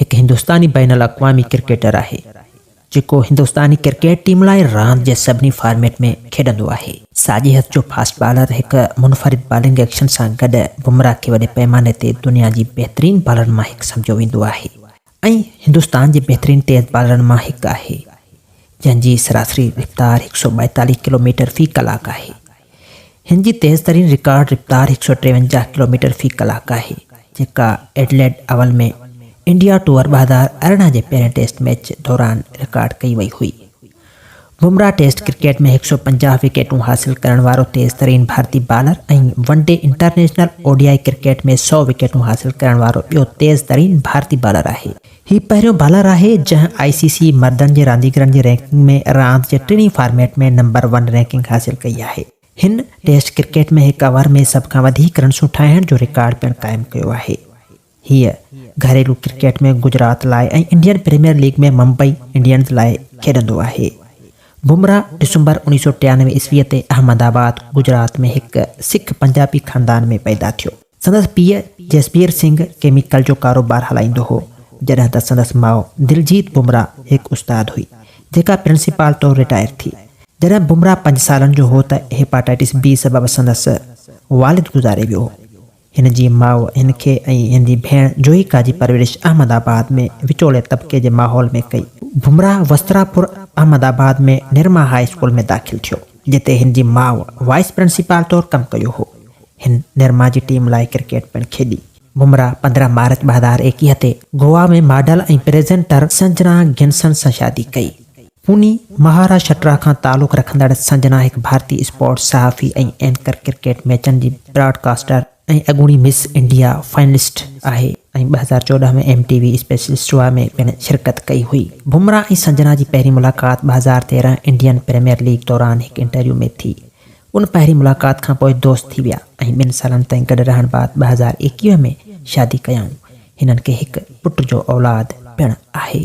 هڪ هندستاني بين الاقوامي ڪرڪيٽر آهي، جيڪو هندستاني ڪرڪيٽ ٽيم لاء راند جي سڀني فارميٽ ۾ کيڏندو آهي. ساڄي هٿ جو فاسٽ بالر هڪ منفرد بالنگ ايڪشن سان گڏ بمرا کي وڏي پئماني تي دنيا جي بهترين بالرن مان هڪ سمجهيو ويندو آهي ۽ هندستان جي بهترين تيز بالرن مان هڪ آهي، جنهن جي سراسري رفتار هڪ سؤ ٻائيتاليهه ڪلوميٽر في ڪلاڪ آهي. هن جي تيز ترين رڪارڊ رفتار هڪ سؤ ٽيونجاهه ڪلوميٽر في ڪلاڪ آهي، جيڪا ايڊليڊ اول ۾ انڊيا ٽوئر ٻه هزار ارڙهن جي پهرين ٽيسٽ ميچ دوران رڪارڊ ڪئي وئي هئي. بمرا ٽيسٽ ڪرڪيٽ ۾ هڪ سؤ پنجاهه وڪيٽون حاصل ڪرڻ وارو تيز ترين ڀارتي bowler ۽ one day international, O D I, cricket ۾ سؤ وڪيٽون حاصل ڪرڻ وارو ٻيو تيز ترين ڀارتي بالر آهي. هي پهريون بالر آهي جنهن آء سي سي مردن جي رانديگرن جي رينڪنگ ۾ راند جي ٽنهي فارميٽ ۾ نمبر ون رينڪنگ حاصل ڪئي آهي. هن ٽيسٽ ڪرڪيٽ ۾ هڪ اوور ۾ سڀ کان وڌيڪ رنسون ٺاهڻ جو رڪارڊ پڻ قائم ڪيو آهي. هيء گهريلو ڪرڪيٽ ۾ گجرات لاء ۽ Indian Premier League ۾ Mumbai Indians لاء کيڏندو آهي. بمراهه ڊسمبر اوڻيهه سؤ ٽيانوي عيسويء تي احمد آباد، گجرات ۾ هڪ سک پنجابي خاندان ۾ پيدا ٿيو. سندس پيء جسبير سنگهه ڪيميڪل جو ڪاروبار هلائيندو هو، جڏهن ته سندس ماء دلجيت بمراه هڪ استاد هئي، جيڪا پرنسپال طور رٽائر ٿي. جڏهن بمراه پنج سالن جو هو ته هيپاٽائٽس بي سبب سندس والد گذاري ويو هو. هن جي ماء هن کي ۽ هن جي ڀيڻ جوهيڪا جي پرورش احمد آباد ۾ وچولي طبقي جي ماحول ۾ ڪئي. بمراه وستراپور احمد آباد ۾ نرما هاء اسڪول ۾ داخل ٿيو، جتي هن جي ماء وائيس پرنسپال طور ڪم ڪيو هو. هن نرما جي ٽيم لاء ڪرڪيٽ پڻ کيڏي. بمراه پندرهن مارچ ٻه هزار ايڪيهه تي گوا ۾ ماڊل ۽ پريزينٽر سنجنا گنسن سان شادي ڪئي. پوني، مهاراشٽرا کان تعلق رکندڙ سنجنا هڪ ڀارتي اسپورٽس صحافي ۽ اينڪر، ڪرڪيٽ ميچن جي براڊ ڪاسٽر ۽ اڳوڻي مس انڊيا فائنلسٽ آهي ۽ ٻه هزار چوڏهن ۾ ايم ٽي وي اسپيشل شوا ۾ پڻ شرڪت ڪئي هئي. بمراه ۽ سنجنا جي پهرين ملاقات ٻه هزار تيرهن انڊين پريميئر ليگ دوران هڪ انٽرويو ۾ ٿي. ان پهرين ملاقات کان پوء دوست ٿي ويا ۽ ٻن سالن تائين گڏ رهڻ بعد ٻه هزار ايڪيهه ۾ شادي ڪيائون. هنن کي هڪ پٽ جو اولاد پڻ آهي.